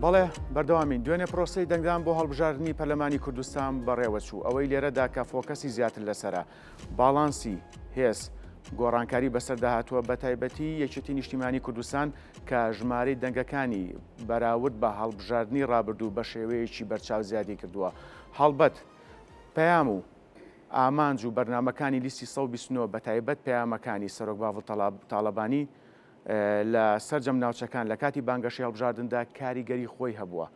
بەڵێ بەردەوامین دوێنێ پرۆسی دەنگدان بۆ هەڵبژاردننی پەرلەمانی کوردستان بەڕێوەچوو ئەوەی لێرەدا کە فۆکەسی زیاتر لەسرە باڵانسی هێز گۆڕانکاری بەسەر داهاتوە بە تایبەتی یەکێتی نیشتیمانی کوردستان کە ژمارەی دەنگەکانی بەراورد بە هەڵبژاردننی ڕابردوو بە شێوەیەکی بەرچاو زیادی کردووە هەڵبەت پەیام و ئامانج و بەرنامەکانی لیستی سەد و بیست و نۆ بەتایبەت پەیامەکانی سەرۆک باڤڵ تاڵەبانی لە سەرجەم ناوچەکان لە کاتی بانگەشەی هەڵبژاردندا کاریگەری خۆی هەبووە.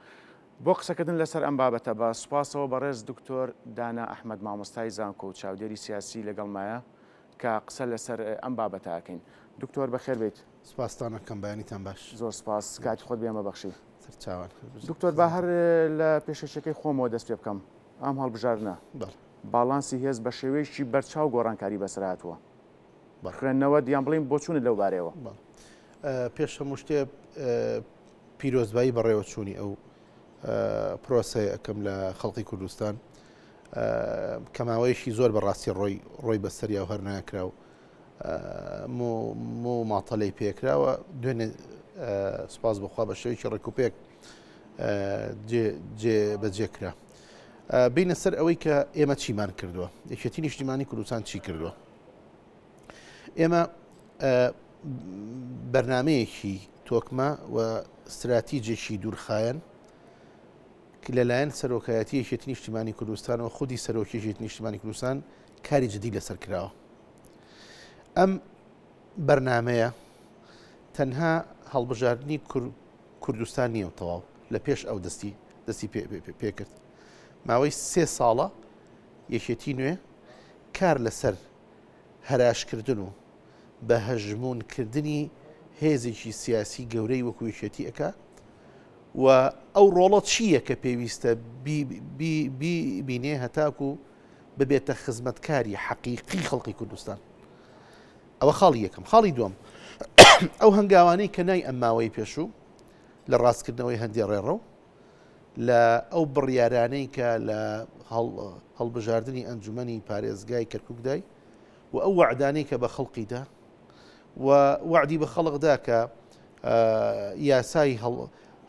بۆ قسەکردن لەسەر ئەم بابەتە بە سوپاسەوە بەڕێز دکتۆر دانا ئەحمەد مامۆستای زانکۆ و چاودێری سیاسی لەگەڵمایە کە قسە لەسەر ئەم بابەتە ئەکەین. دکتۆر بەخێر بێیت. سوپاستان ئەکەم بەیانیتان باش. زۆر سوپاس کاتی خۆت بێمە بەخشی. سەرچاوان. دکتۆر با هەر لە پێشکەشەکەی خۆمەوە دەست پێ بکەم. ئەم هەڵبژاردنە باڵانسی هێز بە شێوەیەکی بەرچاو گۆڕانکاری بەسەرهاتووە. خوێندنەوە دیان بڵین بۆچوونت لەو بارەیەوە. پێش هەموو شتێ پیرۆزبایی بەڕێوەچوونی ئەو پرۆسەیە ئەەکەم لە خەڵقی کوردستان کەماوەیەشی زۆر بەڕاستی ڕۆی ڕۆی بەسەریا و هەرناکرا و مۆ و ماتەلەی پێکراوە دوێنێ سپاس بخوا بە شێوکی ڕێکوپێک بەجێکرا بینە سەر ئەوەی کە ئێمە چیمان کردووە یەکێتی نیشتیمانی کوردستان چی کردووە ئێمە بەرنمەیەکی تۆکمە و استراتیجێکی دوورخایەن لەلایەن سەرۆکایەتی یەکێتی نیشتیمانی کوردستان و خودی سەرۆکیژێت نیشتیمانی کوردستان کاری جدی لەسەر کراوە ئەم بەرنمەیە تەنها هەڵبژاردننی کوردستان نیە و تەواو لە پێش ئەو دەستی دەستی پێکرد ماوەی سێ ساڵە یەکێتی نوێ کار لەسەر هەراشکردن و بە هەژمونکردنی هێزێکی سیاسی گەورەی وەکویشێتی ئەک و ئەو ڕۆڵە چییە کە پێویستە بینێ هەتاکو و ببێتە خزمەتکاری حەقیقی خەڵقی کوردستان ئەوە خاڵی یەکەم خاڵی دوم ئەو هەنگاوانەی کە نای ئەم ماوەی پێشوو لە ڕاستکردنەوەی هەندێ ڕێڕەو لە ئەو بڕیارانەی کە لە هەڵبژاردننی ئەنجومی پارێزگای کەرککدای و ئەو وعدانەی کە بە خەڵقیدا و وعدی بە خەڵقدا کە یاسای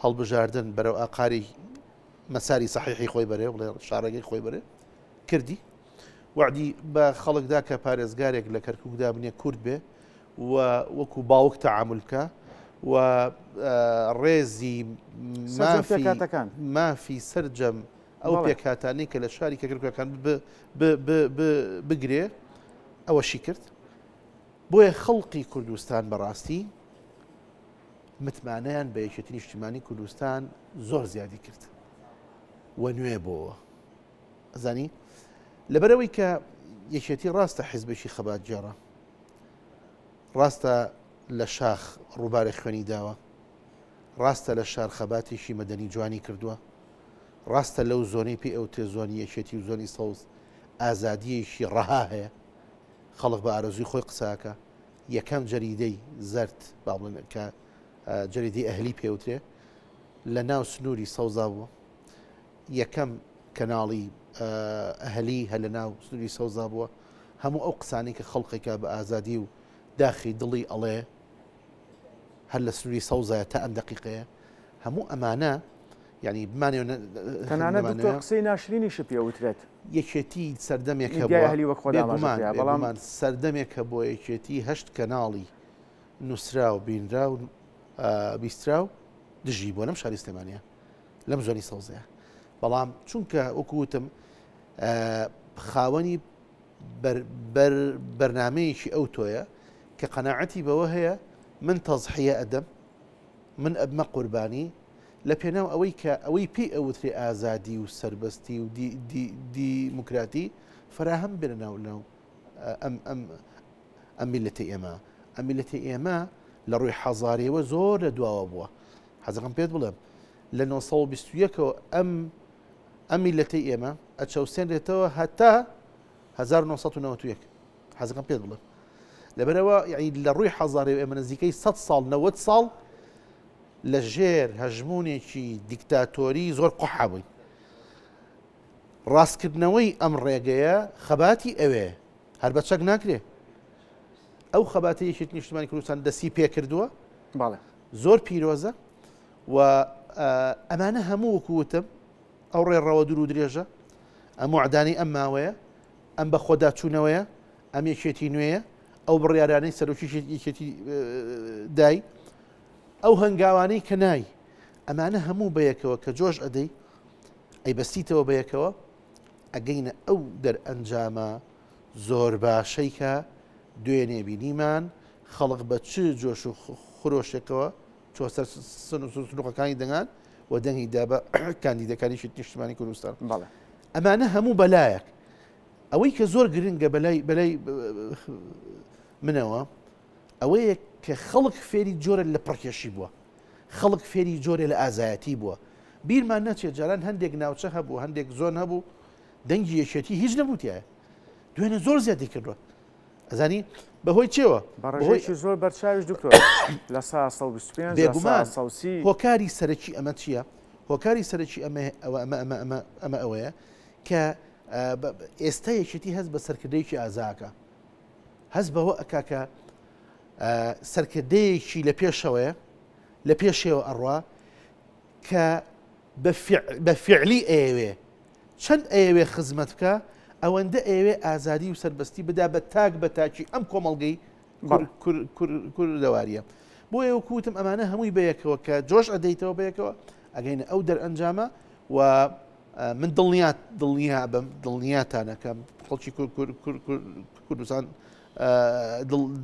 هەڵبژاردن بەرەو ئاقاری مەساری سەحیحی خۆی بەرێ بڵێ شارەگەی خۆی بەرێ کردی وعدی بە خەڵکدا کە پارێزگارێک لە کەرککدا بنێ کورد بێ و وەکو باوک تەعاملکە و ڕێزی مافەکان مافی سرجەم ئەو پێکاتانی کە لە شاری کەکرکەکان بگرێ ئەوەشی کرد بۆیە خەڵقی کوردستان بەڕاستی متمانەیان بە یەکێتی نیشتیمانی کوردستان زۆر زیادی کرد و نوێ بۆوە ئەزانی لەبەرەوەی کە یەکێتی ڕاستە حیزبێکی خەبات جێڕە ڕاستە لە شاخ ڕووبارە خوێنی داوە ڕاستە لە شار خەباتێکی مەدەنی جوانی کردووە ڕاستە لەو زۆنەی پێ ئەو تێزۆنی یەکێتی و زۆنی سەوز ئازادیەکی ڕەها هەیە خەڵک بە ئارەزوی خۆی قساکە یەکەم جەریدەی زەرد با بڵێن کە جەریدەی ئەهلی پێوترێ لە ناو سنووری سەوزا بووە یەکەم کەناڵی ئەهلی هە لە ناو سنووری سەوزا بووە هەموو ئەو قسانی کە خەڵقێکە بە ئازادی و داخی دڵی ئەڵێ هەر لە سنووری سەوزایە تا ئەم دقیقەیە هەموو ئەمانە یانی بمانەوێ نە تەنانەت دکتۆر نەمانەوێ قسەی ناشرینیشت پێ وترێت یەکێتی سەردەمێک میدیای هەبووە، ئەهلی وەک خۆت ئاماژە بێگومان کرا بەڵام بێگومان سەردەمێک هەبووە یەکێتی هەشت کەناڵی نووسراو بینراو ئا بیستراو دژی بووە لەم شاری سلێمانیە لەم زۆنی سەوزەیە بەڵام چونکە وەکو وتم ئا خاوەنی بەر بەر بەرنامەیەکی ئەوتۆیە کە قەناعەتی بەوە هەیە من تەزحیە ئەدەم من ئەبمە قوربانی لەپێناو ئەوەی کە ئەوەی پێی ئەوترێ ئازادی و سەربەستی و دیموکراتی فەراهەم بێنە ناو لەو ئەم میلەتی ئێمە ئەم میلەتی ئێمە لە ڕووی حەزارەوە زۆر لە دواوە بووە حەزەکەم پێت بڵێم لە 1920ەوە ئەم ئەم میلەتی ئێمە ئەچەوسێنرێتەوە هەتا 1991 حەزەکەم پێت بڵێم لەبەرەوە یعنی لە ڕووی حەزاری و ئێمە نزیکەی سە ساڵ نەوەد ساڵ لە ژێر هەژمونێکی دیکتاتۆری زۆر قحابووین ڕاستکردنەوەی ئەم ڕێگەیە خەباتی ئەوێ هەر بە چەک ناکرێ ئەو خەباتی یەکێت نیشتمانی کوردستان دەستی پێ کردووە زۆر پیرۆزە و ئەمانە هەموو وکوتم ئەو ڕێڕەوە دوور و درێژە، ئەم وەعدانەی ئەم ماوەیە، ئەم بەخۆداچوونەوەیە، ئەم یەکێتی نوێیە، ئەو بڕیارانەی سەرۆکی یەکێتی دای، ئەو هەنگاوانەی کە نای، ئەمانە هەموو بەیەکەوە کە جۆش ئەدەی، ئەیبەستیتەوە بەیەکەوە، ئەگەینە ئەو دەرئەنجامە زۆر باشەی کە دوێنێ بینیمان، خەڵک بە چ جۆش و خرۆشێکەوە، چوە سەر سنوقەکانی دەنگان و دەنگی دا بە کاندیدەکانیشی نیشتمانی کوردستان بەڵێ ئەمانە هەموو بەلایەک ئەوەی کە زۆر گرنگە بەلای بەلای منەوە ئەوەیە کە خەڵک فێری جۆرە لە پڕکێشی بووە خەڵک فێری جۆرە لە ئازایەتی بووە بیرمان نەچێت جاران هەندێک ناوچە هەبوو هەندێک زۆن هەبوو دەنگی یەکێتی هیچ نەبووتیایە دوێنێ زۆر زیادی کردوە ئەزانی بەهۆی چێوە بەڕژێکی زۆر بەرچاویش دکتۆر لە سا 125 بێگومان سەوسی هۆکاری سەرەکی ئەمە چییە؟ هۆکاری سەرەکی ئەمە ئەمە ئەوەیە کە ئێستا یەکێتی هەست بە سەرکردەیەکی ئازاکە هەست بەوە ئەکاکە سەرکردەیەکی لە پێشەوەیە لە پێشێوە ئەڕوا کە بە فعلی ئەوێ چەند ئەیەوێ خزمەت بکا ئەوەندە ئەیەوێ ئازادی و سەربەستی بدا بە تاک بە تاکی ئەم کۆمەڵگەی کوردەواریە بۆیە وەکو وتم ئەمانە هەمووی بەیەکەوە کە جۆش ئەدەیتەوە بەیەکەوە ئەگەینە ئەو دەرئەنجامە و من دڵنیات دڵنیا بم دڵنیاتانەکەم خەڵکی کوردستان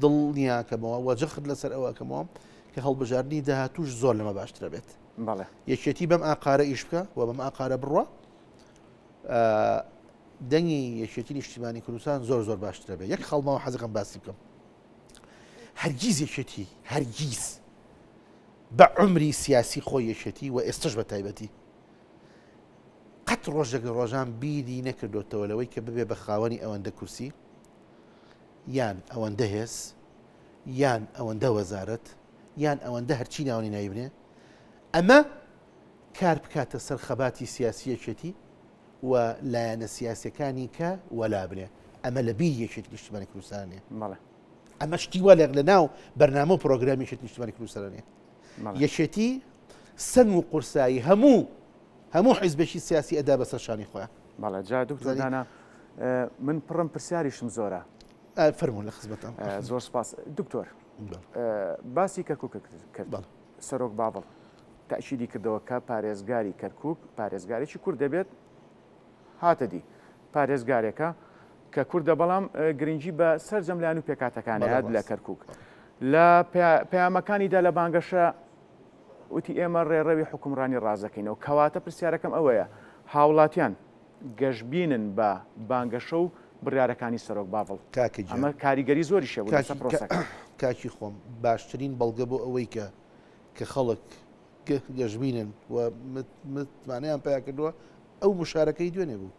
دڵنیاکەمەوە وەجەخت لەسەر ئەوەکەمەوە کە هەڵبژاردننی داهاتوش زۆر لەمە باشترە بێت. بەڵێ یەکێتی بەم ئاقارە ئیش بکە و بەم ئاقارە بڕە دەنگی یەکێتی نیشتیمانی کوردستان زۆر زۆر باشترە بێ یەک خەڵمەوە حەزەکەم باسی بکەم هەرگیز یەکێتی هەرگیز بە عمری سیاسی خۆی یەکێتی و ئێستش بە تایبەتی قەت ڕۆژێک لە ڕۆژان بیری نەکردوێتەوە لەوەی کە ببێ بە خاوەنی ئەوەندە کورسی یان ئەوەندە هێز، یان ئەوەندە وەزارەت، یان ئەوەندە هەرچی ناونی ناوی بنێ، ئەمە کار بکاتە سەر خەباتی سیاسی یەکێتی و لایەنە سیاسیەکانی کە وەلا بنێ، ئەمە لە بیری یەکێتی نیشتیمانی کوردستان نیە. بەڵێ. ئەمە شتی وا لە لە ناو بەرنامە و پرۆگرامی یەکێتی نیشتیمانی کوردستان نیە. بەڵێ. یەکێتی سەنگ و قورسایی هەموو هەموو حیزبێکی سیاسی ئەدا بەسەر شانی خۆیان. بەڵێ جا دکتۆر دانا من پڕم پرسیاریشم زۆرە. فەرموو لە خزمەتتام. زۆر سپاس دکتۆر باسی کەرکووک کرد سەرۆک باڤڵ تەئکیدی کردەوە کە پارێزگاری کەرکووک پارێزگارێکی کورد دەبێت هاتە دی پارێزگارێکە کە کوردە بەڵام گرنگی بە سەرجەم لایەن و پێکاتەکانیان لە کەرکووک لە پەیامەکانیدا لە بانگەشە وتی، ئێمە ڕێڕەوی حوکمڕانی ڕاست دەکەینەوە، کەواتە پرسیارەکەم ئەوەیە هاوڵاتیان گەشبینن بە بانگەشە و بڕیارەکانی سەرۆک باڤڵ؟ کاکە گیان. ئەمە کاریگەری زۆریشی هەبوو لەسەر پرۆسەکە. کاکی خۆم، باشترین بەڵگە بۆ ئەوەی کە کە خەڵک گەشبینن و متمانەیان پیا کردووە، ئەو گوشارەکەی دوێنێ بوو.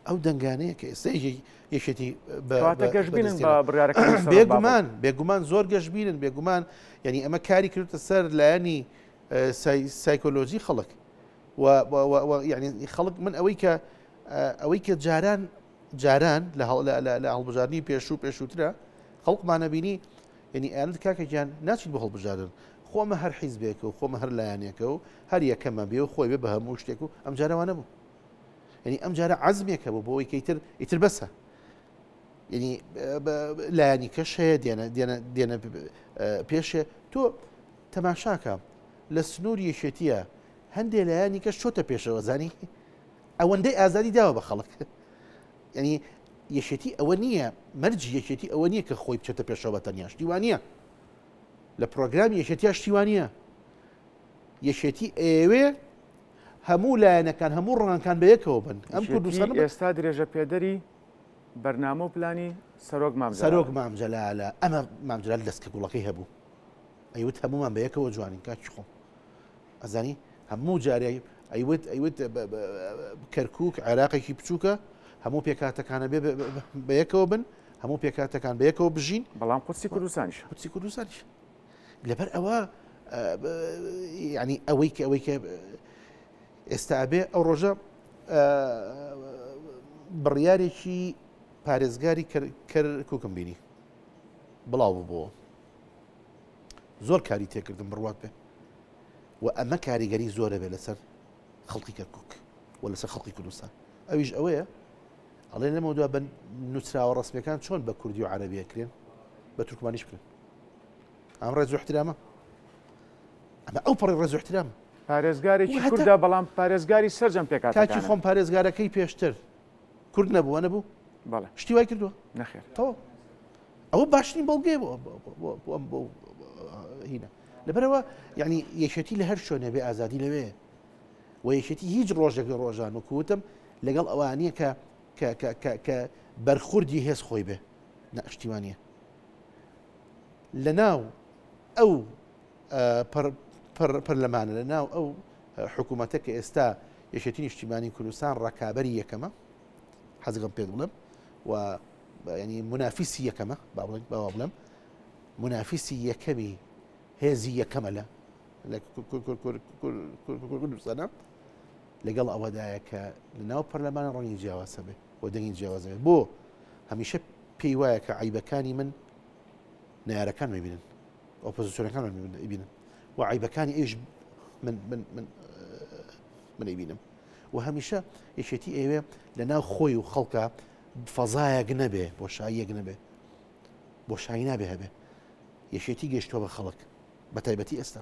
ئەو دەنگانەیە کە ئێستا یەکێتی گەشتبینن بێگومان بێگومان زۆر گەشتبینن بێگومان یعنی ئەمە کاری کردتە سەر لایەنی سایکۆلۆژی خەڵک یعنی خەڵک من ئەوەی کە ئەوەی کە جاران جاران لە لە هەڵبژاردننی پێشوو پێشووترە خەڵکمانە بینی یعنی ئەند کاکەگیان ناچیت بە هەڵبژاردن خۆمە هەر حیزبێک و خۆمە هەر لایەنێکە و هەر یەکەمە بێ و خۆی بێ بە هەموو شتێک و ئەم جارەوانە بوو یەنی ئەم جارە عەزمێک هەبوو بۆ ئەوەی کە ئیتر ئیتر بەسە یەنی لایەنی کەش هەیە دێنە دێنە دێنە پێشێ تۆ تەماشاکە لە سنوور یەکێتیە هەندێ لایەنی کەش چۆتە پێشەوە زانی ئەوەندەی ئازادی داوە بە خەڵک یعنی یەکێتی ئەوە نییە مەرجی یەکێتی ئەوە نییە کە خۆی بچێتە پێشەوە بە تەنیا شتیوانە لە پرۆگرامی یەکێتیا شتیوانە یەکێتی ئەوێ هەموو لایەنەکان هەموو ڕەنگەکان بە یەکەوە بن ئەم کوردستان ئێستا درێژە پێدەری بەرنامە و پلانی سەرۆک مام سەرۆک مام جەلالە ئەمە مام جەلال دەست کە گوڵەکەی هەبوو ئەیوت هەمومان بە یەکەوە جوانین کاکی خۆم ئەزانی هەموو جارێ ئەیوت ئەیوت کەرکک عێراقێکی بچووکە هەموو پێکاتەکانە بێ بە یەکەوە بن هەموو پێکاتەکان بە یەکەوە بژین بەڵام قوسی کوردستانیش قوسی کوردستانیش لەبەر ئەوە ینی ئەوەی کە ئەوەی کە ئێستا ئەبێ ئەو ڕۆژە بڕیارێکی پارێزگاری کوکم بینی بڵاو ببووە زۆر کاری تێکردم بڕوات بێ و ئەمە کاریگەری زۆرە بێ لەسەر خەڵقی کەرکک و لەسەر خەڵقی کوردستان ئەویش ئەوەیە ئەڵێ لەمە دو بە نووسراوە ڕسمەکان چۆن بە کوردی و عربیەکرێن بە تورکمانیش بکرێن ئەم ڕێز و احترامە ئەمە ئەو پەڕی ڕێز و احترامە پارێزگارێکی وهتا- کوردە بەڵام پارێزگاری سەرجەم کاکی پێکاتەکانە خۆم پارێزگارەکەی پێشتر کورد نەبووە نەبوو بەڵێ شتی وای کردووە نەخێر تەواو ئەوە باشترین بەڵگەیە بۆ بۆ- بۆ- بۆ- بۆ ئەم- بۆ هینە لەبەرەوە یعنی یەکێتی لە هەر شوێنێ بێ ئازادی لەوێ و یەکێتی هیچ ڕۆژێک لە ڕۆژان و کوتم لەگەڵ ئەوانیە کە کە- کە- کە- کە بەرخوردی هێز خۆی بێ نە شتیوانە لە ناو ئەو پەرلەمانە لە ناو ئەو حکوومەتە کە ئێستا یەکێتی نیشتیمانی کوردستان ڕکابی یەکەمە حەزگەم پێ بڵم و ینی منافیسی یەکەمە با بڵێن باوا بڵم منافیسی یەکەمی هێزی یەکەمە لە کوردستانە لەگەڵ ئەوەدایە کە لە ناو پەرلەمانە ڕەنگی جیاواسە بێت و دەنگی جیاواز دەبێت بۆ هەمیشە پێی وایە کە عیبەکانی من نارەکان مەبینن ئۆپۆزیسیۆنەکان بینن و عیبەکانی ئەوش من ئەبینم و هەمیشە یەکێتی ئێوێ لە ناو خۆی و خەڵکە فەزایەک نەبێ بۆ شاییەک نەبێ بۆ شایی نابێ هەبێ یەکێتی گەشتۆ بە خەڵک بە تایبەتی ئێستا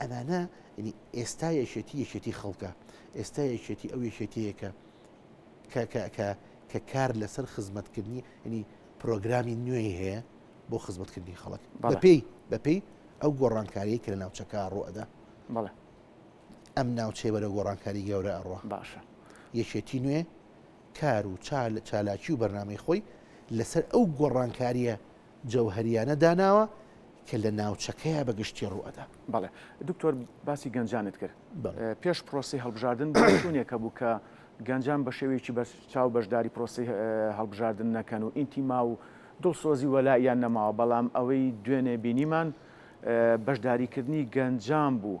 ئەمانە ئێستا یەکێتی یەکێتی خەڵکە ئێستا یەکێتی ئەو یەکێتەیەکە کە کار لەسەر خزمەتکردنی ینی پرۆگرامی نوێی هەیە بۆ خزمەتکردنی خەڵک بەپی بەپی ئەو گۆڕانکاریە کە لە ناوچەکە ڕوەدا بڵێ ئەم ناوچەی بەرە گۆڕانکاری گەورە ئەڕۆ باشە یەکێتی نوێ کار و چال چالاکی و بەرنمەی خۆی لەسەر ئەو گۆڕانکاریە جەوهەریانە داناوە کە لە ناوچەکەیا بە گشتی ڕوو ئەدا. بەڵێ دکتۆر باسی گەنجانت کرد پێش پرۆسەی هەڵبژاردن بۆ شوێنێک هەبوو کە گەنجان بە شێوەیەکی بەرچاو بەشداری پرۆسەی هەڵبژاردن نەکەن و ئینتیما و دڵسۆزی وەلائیان نەماوە بەڵام ئەوەی دوێنێ بینیمان بەشداریکردنی گەنجان بوو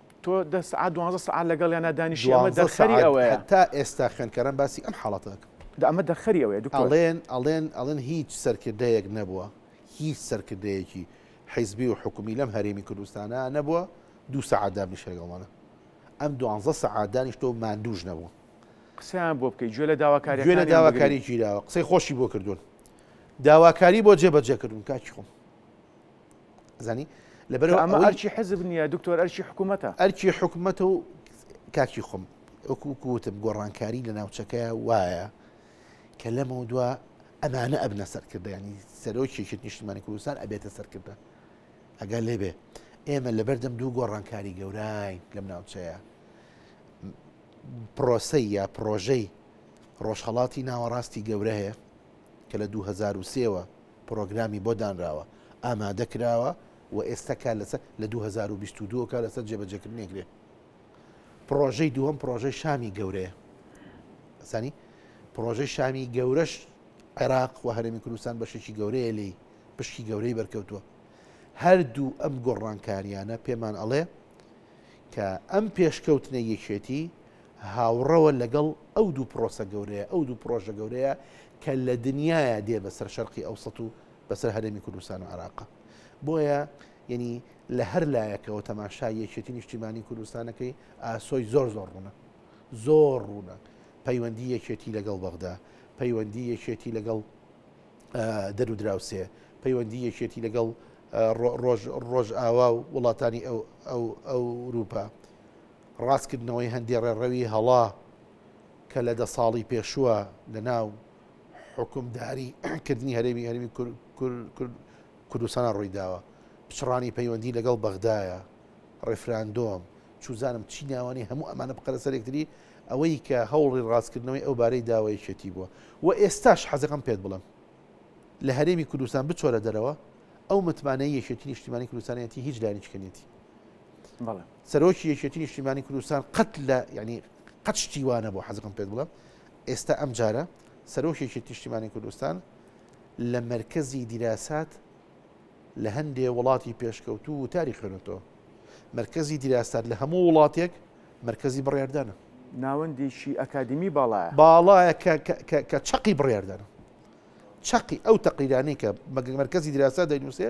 تۆ دە سەعات دوانزە سەعات لەگەڵیانا دانیشی ئەمە دوانزە دەرخەری سەعات ئەوەیە هەتا ئێستا خوێندکاران باسی ئەم حاڵەتە دەکەن دە ئەمە دەرخەری ئەوەیە دکتۆر ئەڵێن ئەڵێن ئەڵێن هیچ سەرکردەیەک نەبووە هیچ سەرکردەیەکی حیزبی و حکومی لەم هەرێمی کوردستانا نەبووە دوو سەعات دابنیشێ لەگەڵمانا ئەم دوانزە سەعات دانیشتووە و ماندووش نەبووە قسەیان بۆ بکەی گوێ لە گوێ لە داواکاریەکانیان بگری داواکاری گیراوە قسەی خۆشی بۆ کردوون داواکاری بۆ جێبەجێ کردوون کاکی خۆم. زانی لەبەر ئەمە ئەرچی حزب نییە دکتۆر ئەرچی حکوومەتە ئەرچی حکوومەتە و کاکی خۆم وەکووتم گۆڕانکاری لە ناوچەکە وایە کە لەمە دووە ئەمانە ئەبنە سەرکردیانی سەرۆکیێکی نیشتمانی کوردستان ئەبێتە سەرکردە ئەگەر لێبێ ئێمە لە بەردەم دوو گۆڕانکاری گەورای لەم ناوچەیە پرۆسی یا پرۆژەی ڕۆژهڵاتی ناوەڕاستی گەورە هەیە کە لە 2023ەوە پڕۆگرامی بۆ دانراوە، ئامادە کراوە و ئێستا کار لەسەر، لە دوو هەزار و بیست و دوو کار لەسەر جێبەجێکردنی ئەکرێ. پڕۆژەی دووەم پڕۆژەی شامی گەورەیە. زانی؟ پڕۆژەی شامی گەورەش عێراق و هەرێمی کوردستان بەشێکی گەورەیە لێی، پشکی گەورەی بەرکەوتووە. هەردوو ئەم گۆڕانکارییانە پێمان ئەڵێ کە ئەم پێشکەوتنەی یەکێتی هاوڕەوە لەگەڵ ئەو دوو پرۆسە گەورەیە، ئەو دوو پرۆژە گەورەیە کە لە دنیایە دێ بەسەر شەرقی ئەوسەت و بەسەر هەرێمی کوردستان و عێراق. بۆیە یەنی لە هەر لایەکەوە تەماشای یەکێتی نیشتیمانی کوردستانەکەی ئاسۆی زۆر زۆر ڕوونە. زۆر ڕوونە. پەیوەندی یەکێتی لەگەڵ بەغدا، پەیوەندی یەکێتی لەگەڵ دەر و دراوسێ، پەیوەندی یەکێتی لەگەڵ ڕۆژ ڕۆژئاوا و وڵاتانی ئەو ئەو ئەوروپا. ڕاستکردنەوەی هەندێ ڕێڕەوی هەڵە کە لە دە ساڵی پێشووە لە ناو حوکمداری کردنی هەرێمی هەرمی کوردستانە ڕووی داوە پچڕانی پەیوەندی لەگەڵ بەغدایە ڕێفراندۆم چوزانم چی ناوانی هەموو ئەمانە بقەرە سەرێکتری ئەوەی کە هەوڵی ڕاستکردنەوەی ئەو بارەی داوایەتی بووە و ئێستاش حەزەکەم پێت بڵم لە هەرێمی کوردستان بچۆرە دەرەوە ئەو متمانەی یەکێتی نیشتیمانی کوردستانەتی هیچ لایەنی چکەنێتی بەڵێ سەرۆکی یەکێتی نیشتیمانی کوردستان قەت لە یەعنی قەت شتی وا نەبوو حەزەکەم پێت بڵێم ئێستا ئەم جارە سەرۆکی یەکێتی نیشتیمانی کوردستان لە مەرکەزی دیراسات لە هەندێ وڵاتی پێشکەوتوو وتاری خوێنێتەوە مەرکەزی دیراسات لە هەموو وڵاتێک مەرکەزی بڕیاردانە ناوەندێکی ئەکادیمی باڵایە باڵایە کە کە کە کە چەقی بڕیاردانە چەقی ئەو تەقریرانەی کە مەرکەزی دیراسا دەینووسێ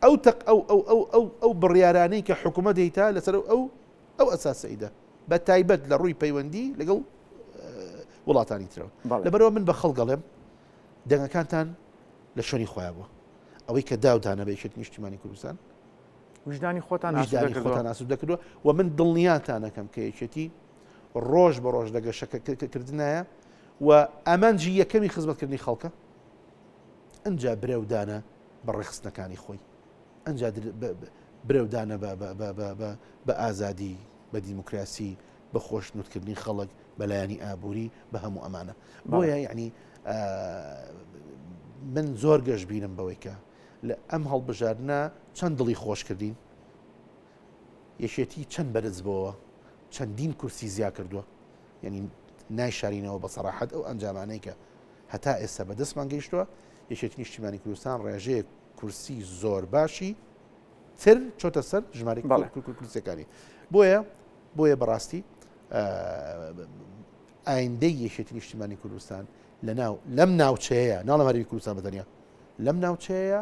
ئەو تەق ئەو ئەو ئەو ئەو ئەو بڕیارانەی کە حکوومەت دەیتا لەسەر ئەو ئەو ئەساسەیدا بە تایبەت لە ڕووی پەیوەندی لەگەڵ وڵاتانی ترەوە لەبەرەوە من بە خەڵگەڵێم دەنگەکانتان لە شوێنی خۆیان بووە ئەوەی کە داودانە بێشێت نیشتیمانی کوردستان وژدانی خۆتان خۆتان ئاسو دەکردوە و من دڵنیاتانەکەم کە یەکێتی ڕۆژ بە ڕۆژ لە گەشەکەکردنایە و ئامانجی یەکەمی خزمەتکردنی خەڵکە ئەنجا برەو دانە بە ڕێخستنەکانی خۆی ئەنجا برەودانە بە ئازادی بە دیموکراسی بە خۆشنوتکردنی خەڵک بەلایانی ئابووری بە هەموو ئەمانە بۆیە یعنی من زۆر گەشت بینم بەوەیکە لە ئەم هەڵبژاردنە چەند دڵی خۆش کردین یەکێتی چەند بەرز بۆەوە چەندین کورسی زیا کردووە یانی نایشارینەوە بە سەراحەت ئەو ئەنجامانەی کە هەتا ئێستا بە دەستمان گەیشتووە یەکێتی نیشتیمانی کوردستان ڕێژەیە کورسی زۆر باشی تر چۆتە سەر ژماری کورسەکانی بۆیە بۆیە بەڕاستی ئایندەی یەکێتی نیشتیمانی کوردستان لە ناو لەم ناوچەیە ناڵە هەرمی کوردستان بەتەنیا لەم ناوچەیە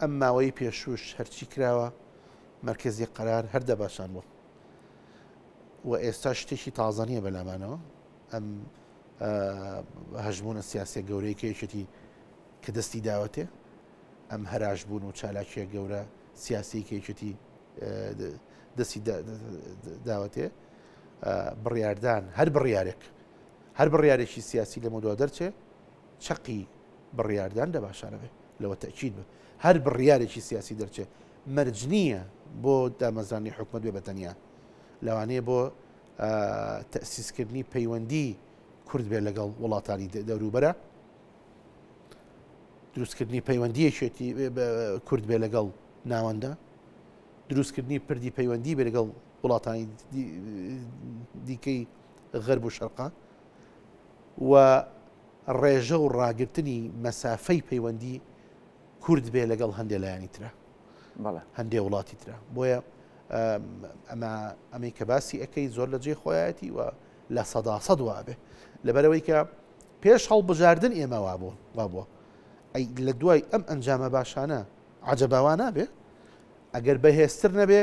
ئەم ماوەی پێشووش هەرچی کراوە مەرکەزی قەرار هەر دەباشان بۆ و ئێستا شتێکی تازە نییە بەلامانەوە ئەم هەژمونە سیاسە گەورەی کێشێتی کە دەستی داوەتێ ئەم هەراش بوون و چالاکیە گەورە سیاسی کێشێتی دەستی داوەتێ بڕاردان هەر بڕارێک هەر بڕارێکی سیاسی لە مدووا دەرچێ چەقی بڕیاردان لە باشانە بێ. لەوە تەئکید بە هەر بڕیارێکی سیاسی دەرچێ مەرج نییە بۆ دامەزراندنی حکومەت بێ بە تەنیا. لەوانەیە بۆ تەئسیسکردنی پەیوەندی کورد بێ لەگەڵ وڵاتانی دەوروبەرە، دروستکردنی پەیوەندیەکێتی کورد بێ لەگەڵ ناوەندە، دروستکردنی پردی پەیوەندی بێ لەگەڵ وڵاتانی دیکەی غەرب و شەرقا. و ڕێژە و ڕاگرتنی مەسافەی پەیوەندی کورد بێ لەگەڵ هەندێ لایانی ترە هەندێ وڵاتی ترە بۆیە ئەمە ئەمەی کە باسی ئەەکەی زۆر لە جێ خۆیەتی و لە سەدا سەد وابێ لەبەرەوەی کە پێش هەڵبژاردن ئێمە وابوو وابووە ئەی لە دوای ئەم ئەنجامە باشانە عجباوانە بێ ئەگەر بەهێزتر نەبێ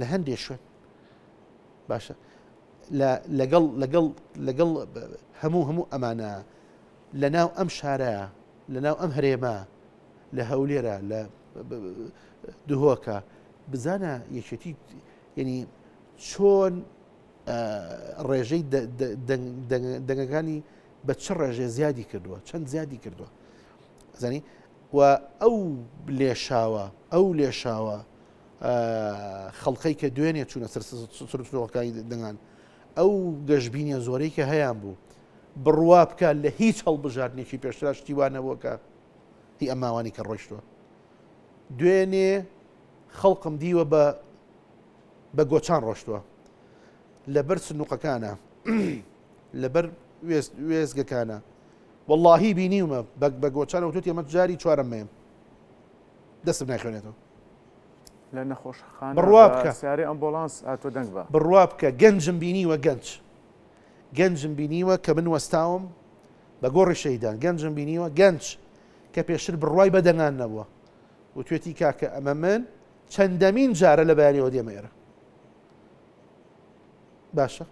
لە هەندێک شوێن باشە لەگەڵ لەگەڵ لەگەڵ هەموو هەموو ئەمانە لە ناو ئەم شارە لە ناو ئەم هەرێمە لە هەولێرە لە دهۆکە بزانە یەکێتی ینی چۆن ڕێژەی دەنگەکانی بە چ ڕێژێ زیادی کردووە چەند زیادی کردووە زانی و ئەو لێشاوە ئەو لێشاوە خەڵقەی کە دوێنێ چوونە سەر سرۆکانی دەنگان ئەو گەشببینە زۆرەی کە هەیان بوو بڕوا بکە لە هیچ هەڵبژاردنێکی پێشرا شتیوانەوە کە هی ئەماوانی کە ڕۆیشتوە دوێنێ خەڵقم دیوە بە بە گۆچان ڕۆشتووە لەبەر سنوقەکانە لەبەر وێزگەکانە واللهی بینیومە بە گۆچانەوە توت ئەمە جاری چوارەمەیە دەسم ناخوێنێتەوە لە نەخۆشخان بڕوا بکە سیارێ ئەمبۆڵانس هاتووە دەنگ بە بڕوا بکە گەنجم بینیوە گەنج گەنجم بینیوە کە من وەستاوم بە گۆڕی شەیدان گەنجم بینیوە گەنج کە پێشتر بڕوای بە دەنگان نەبووە و توێتی کاکە ئەمە من چەندەمین جارە لە بەیانەوە دێمە ئێرە باشە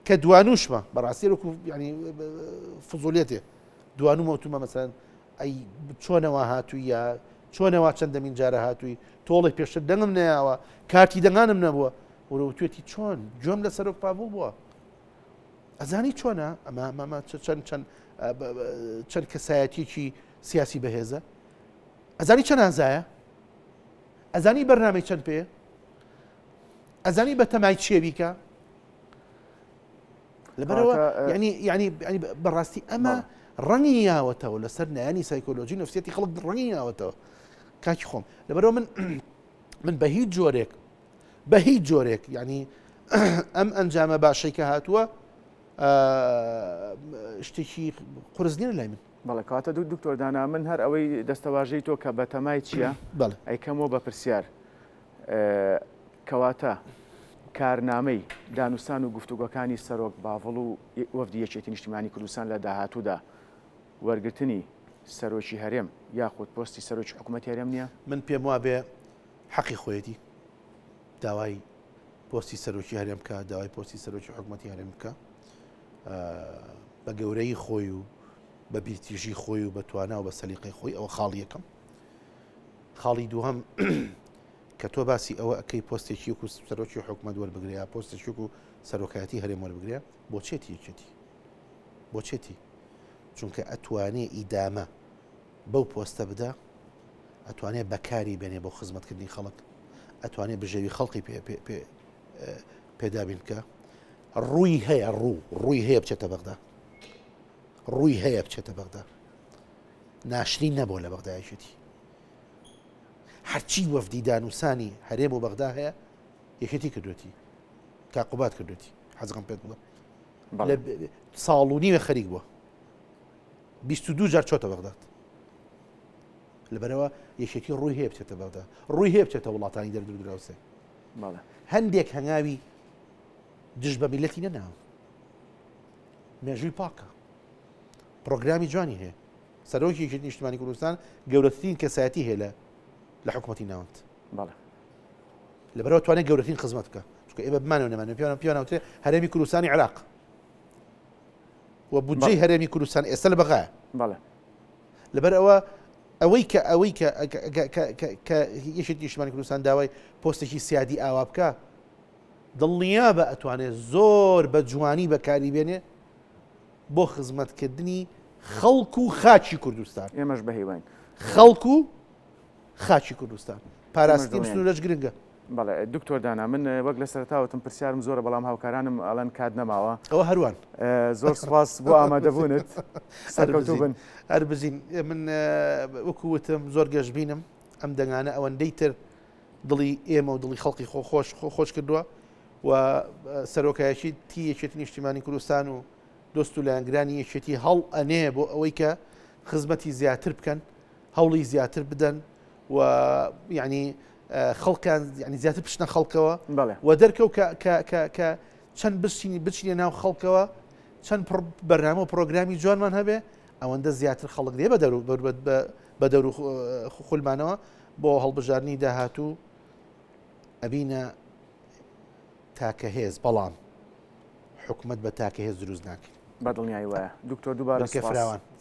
کە دوانوشمە بەڕاستی وەکو ینی فزۆلیەتێ دوانومەوتومە مەسەن ئەی چۆنەوا هاتووی یا چۆنەوا چەندەمین جارە هاتووی تۆڵی پێشتر دەنگم نەیاوە کارتی دەنگانم نەبووە وروتێتی چۆن گوێم لە سەرۆک پاڤڵ بووە ئەزانی چۆنە ئەمە مەمە چەند چەند چەند کەسایەتیکی سیاسی بەهێزە ئەزانی چەند ئازایە ئەزانی بەرنامی چەند پێ ئەزانی بە تەمای چێویکە لەبەرەوە ینی ینی بەڕاستی ئەمە ڕەنگی یاوەتەوە لەسەر نایانی سایکۆلۆژی نفسیەتی خەڵک ڕەنگی یاوەتەوە کاکی خۆم لەبەرەوە من من بە هیچ جۆرێک بە هیچ جۆرێک ینی ئەم ئەنجامە باشەی کە هاتووە شتێکی قرسنیە لای من بەڵکاتە دوو دکتۆردانا من هەر ئەوەی دەستەواژەی تۆ کە بەتەمای چییە ئەیکەمەوە بە پرسیار کەواتە کارنامەی دانوستان و گفتوگۆکانی سەرۆک باڤڵ و وەفدی یەکێتی نیشتیمانی کوردستان لە داهاتوودا وەرگرتنی سەرۆکی هەرێم یاخود پۆستی سەرۆکی حکوومەتی هەرێم نییە؟ من پێم وابێ حەقی خۆیەتی داوای پۆستی سەرۆکی هەرێم بکە، داوای پۆستی سەرۆکی حکوومەتی هەرێم بکە بە گەورەی خۆی و بە بیرتیژی خۆی و بە توانا و بە سەلیقەی خۆی ئەوە خاڵ یەکەم. خاڵی دووهم کە تۆ باسی ئەوە ئەەکەی پۆستێکی و سەرۆکی حکوومەت وەربگریا پۆستێکی و سەرۆکایەتی هەرێم وەربگرێ بۆچێتی یەکێتی بۆچێتی چونکە ئەتوانێ ئیدامە بەو پۆستە بدە ئەتوانێ بەکاری بێنێ بۆ خزمەتکردنی خەڵک ئەتوانێ بژێوی خەڵکی پێدابین بکە ڕووی هەیە ڕوو ڕووی هەیە بچێتە بەغدا ڕووی هەیە بچێتە بەغدا ناشرین نەبووە لە بەغدا یەکێتی هەرچی وەفدی دانوسانی هەرێم و بەغدا هەیە یەکێتی کردوێتی تا قوبات کردوێتی حەزەکەم پێت بڵم ساڵ و نیوە خەریک بووە دو جار چۆتە بەغداد لەبەرەوە یەکێتی ڕووی هەیە بچێتە بەغدا ڕووی هەیە بچێتە وڵاتانی دەردو دراوسێ هەندێک هەنگاوی دژ بە میلەتی نەناوە مێژووی پاکە پڕۆگرامی جوانی هەیە. سەرۆکی یەکێتی نیشتمانی کوردستان گەورەترین کەسایەتی هەیە لە لە حکوومەتی ناوەند. بەڵێ. لەبەرەوە توانێت گەورەترین خزمەت بکە چکە ئێمە بمانەوە نەمانێت پیانە پیانەوتێ هەرێمی کوردستانی عراق و بودجەی هەرێمی کوردستان ئێستا لە بەغایە بەڵێ لەبەر ئەوە ئەوەی کە ئەوەی کە یەکێت نیشتمانی کوردستان داوای پۆستێکی سیادی ئاوا بکە دڵنیا بە ئەتوانێت زۆر بە جوانی بەکاری بێنێ بۆ خزمەتکردنی خەڵک و خاکی کوردستان. ئێمەش بە هیواین. خەڵک و خاکی کوردستان. پاراستنی بسنورەش گرنگە. بەڵێ دکتۆر دانا من وەک لە سەرەتاوتم پرسیارم زۆرە بەڵام هاوکارانم ئەڵێن کات نەماوە ئەوە هەروان زۆر سپاس بۆ ئامادەبوونت سەرکەوتوو بن هەر بزین من وەکو وتم زۆر گەشببینم ئەم دەنگانە ئەوەندەی تر دڵی ئێمە و دڵی خەڵکی خۆ خۆش خۆ خۆش کردووە و سەرۆکایەتیی یەکێتی نیشتیمانی کوردستان و دۆست و لایەنگرانی یەکێتی هەڵئەنێ بۆ ئەوەی کە خزمەتی زیاتر بکەن هەوڵی زیاتر بدەن و یعنی خەڵکان ینی زیاتر پشتە خەڵکەوە و دەرکەوت کە چەند بشینی بچینە ناو خەڵکەوە چەند بەرنامە و پرۆگرامی جوانمان هەبێ ئەوەندە زیاتر خەڵک دێ بە دەرو بە دەور خولمانەوە بۆ هەڵبژارنی داهاتوو ئەبینە تاکە هێز بەڵام حکومەت بە تاکە هێز دروست ناکرێت. بەدڵنیایی وایە دکتۆر دووبارە سوپاس.